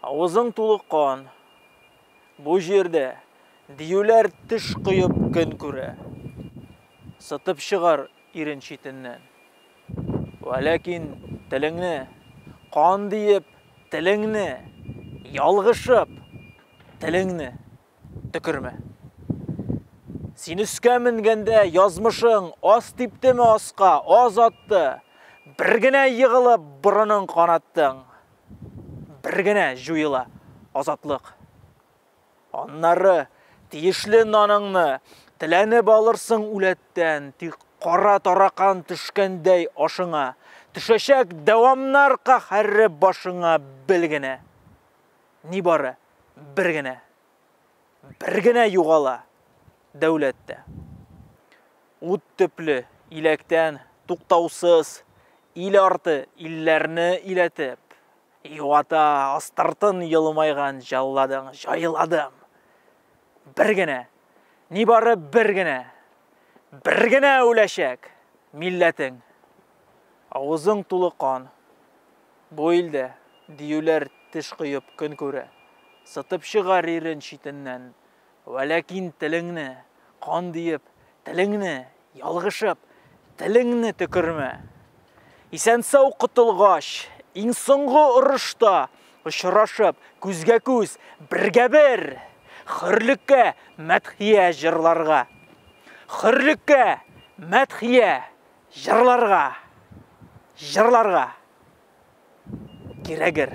Авызың тулы кан. Бу җирдә диюләр теш коеп көн күрә. Сытып чыгар ирен читеннән. Вә ләкин телеңне, кан диеп, телеңне, ялгышып, телеңне. Төкермә. Син өскә менгәндә язмышың аз типтеме аска, аз атты. Бер генә егылып борының канаттың. Бер генә җуела азатлык. Аннары тиешле наныңны теләнеп алырсың үләттән, тик кара таракан төшкәндәй ашыңа, төшәчәк дәвамнар каһәре башыңа бел генә. Нибары бер генә, бер генә югала дәүләттә. Ут төпле иләктән туктаусыз ил арты илләрне иләтеп, юата астыртын елмайган җалладың, җайладым. Бер генә, нибары бер генә, бер генә үләчәк милләтең. Авызың тулы кан, Бу илдә, диюләр, теш коеп көн күрә. Сытып чыгар ирен читеннән. Вәләкин телеңне, кан диеп, телеңне, ялгышып, телеңне төкермә. Исән-сау котылгач, иң соңгы орышта очрашып, күзгә-күз, бергә-бер! Хөрлеккә мәдхия җырларга! Хөрлеккә мәдхия! Җырларга! Җырларга! Кирәгер!